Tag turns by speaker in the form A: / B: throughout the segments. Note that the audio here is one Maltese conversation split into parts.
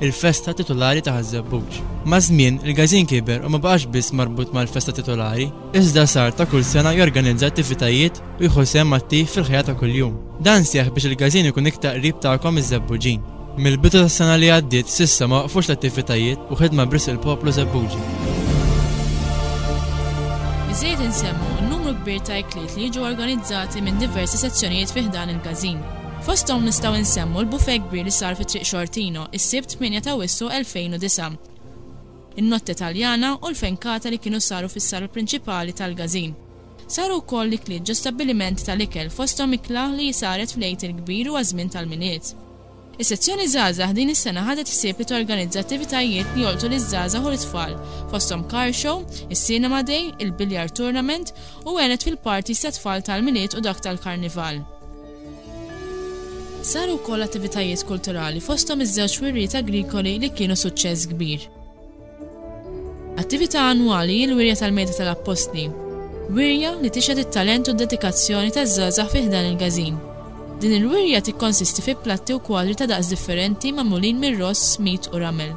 A: il-festa titulari ta' Ħaż-Żebbuġ. Maż-żmien, il-Gazin kiber u ma baqax biss marbut mal-festa titulari, iżda sar ta' kull sena jorganizza attivitajiet u jieħu sehem attiv fil-ħajja ta' kuljum. Dan seħħ biex il-Gazin ikun iktar qrib tagħkom iż-Żebbuġin. Mill-bidu tas-sena li għaddiet s'issa ma waqfux l-attivitajiet u ħidma b'risq il-poplu Żebbuġi.
B: Biżżejjed insemmu n-numru kbir ta' ikliet li jiġu organizzati minn diversi sezzjonijiet fi ħdan il-Gazin. Fosthom nistgħu nsemmu l-bufè kbir li sar fi Triq Xortino, is-Sibt 8 ta' Awwissu 2009, in-Notte Taljana u l-fenkata li kienu saru fis-sala prinċipali tal-Gazin. Saru wkoll l-ikliet ġo stabbilimenti tal-ikel fosthom ikla li saret fl-Għid il-Kbir u għaż-żmien tal-Milied. Is-Sezzjoni Żgħażagħ din is-sena ħadet ħsieb li torganizza attivitajiet li jolqtu liż-żgħażagħ u lit-tfal, fosthom car show, is-cinema day, il-billiard tournament u għenet fil-parties tat-tfal tal-Milied u dak tal-Karnival. Saru wkoll attivitajiet kulturali fosthom iż-żewġ wirjiet agrikoli li kienu suċċess kbir. Attività annwali hi l-Wirja tal-Mejda tal-Appostli, wirja li tixhed it-talent u d-dedikazzjoni taż-żgħażagħ fi ħdan il-Gażin. Din il-wirja tikkonsisti fi platti u kwadri ta' daqs differenti magħmulin mir-ross, mit u ramel.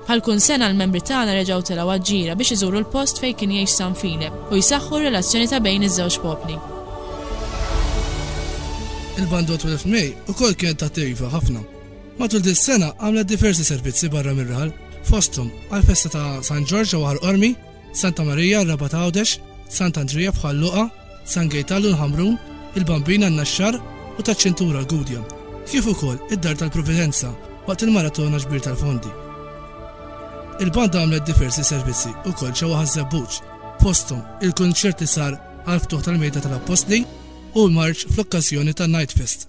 B: Bħal kull sena l-membri tagħna reġgħu telgħu għaġ-ġira biex iżuru l-post fejn kien jgħix San File u jsaħħu r-relazzjoni ta' bejn iż-żewġ popli.
C: Il-Banda 12 May ukoll kienet attiva ħafna. Matul dis-sena għamlet diversi servizzi barra mir-raħal, fosthom għall-festa ta' San Ġorġ ġewwa Ħal Qormi, Santa Marija r-Rabat Għawdex, Sant Andrija f'Ħal Luqa, San Gejtal u l-Ħamrun, il-Bambina n-Naxxar u taċ-Ċintura l-Gudja, kif ukoll id-Dar tal-Providenza waqt il-Maratona Ġbir tal-Fondi. Il-banda għamlet diversi servizzi wkoll ġewwa Ħaż-Żebbuġ, fosthom il-kunċert li sar għall-ftuħ tal-Mejda tal-Appostli u l-marċ fl-okkażjoni tan-Night Fest.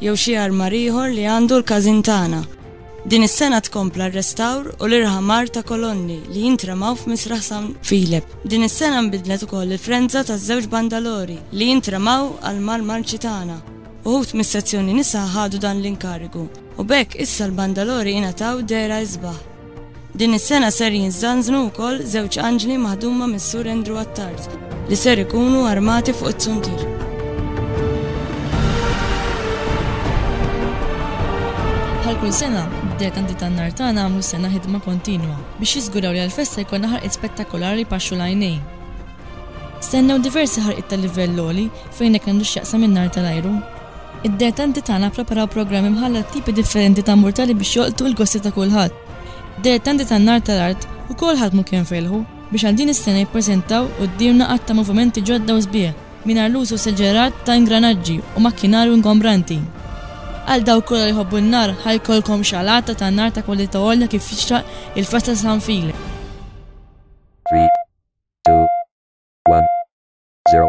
D: jew xi armar ieħor li għandu l-każin tagħna. Din is-sena tkompla r-restawr u l-irħamar ta' kolonni li jintremaw f'Misraħ San Filep. Din is-sena nbidlet ukoll il-frenza taż-żewġ bandalori li jintremaw għall-Mar Marċi tagħna. Uħud mis-sezzjoni nisa ħadu dan l-inkarigu u b'hekk issa l-bandalori ingħataw dehra isbaħ. Din is-sena ser jinżanżnu wkoll żewġ anġli maħduma mis-Sur Andrew Attard li ser ikunu armati fuq it-tsuntir.
B: Bħal kull sena, d-dekandi tan-nar tagħna għamlu sena ħidma kontinwa biex jiżguraw li għall-festa jkollna ħarqiet spettakolari li paxxu l-għajnejn. Stennew diversi ħarqiet ta' livell għoli fejn hekk għandu x'jaqsam in-nar tal-ajru. Id-dilettanti tagħna ppreparaw programm imħallat għat-tipi differenti ta' murtali biex jolqtu il-gosti ta' kulħadd. Id-dilettanti tan-Nar tal-Art ukoll ħadmu kemm felħu biex għal din is-sena jippreżentaw quddiemna għadd ta' movimenti ġodda u sbieħ mingħajr l-użu esaġerat ta' ingranaġġi u makkinarju ingombranti. Għal dawk kollha li jħobbu n-nar ħa jkollkom xalata ta' nar ta' kwalità għolja kif jixraq il-festa ta' San Filip.
E: Three, two, one, zero.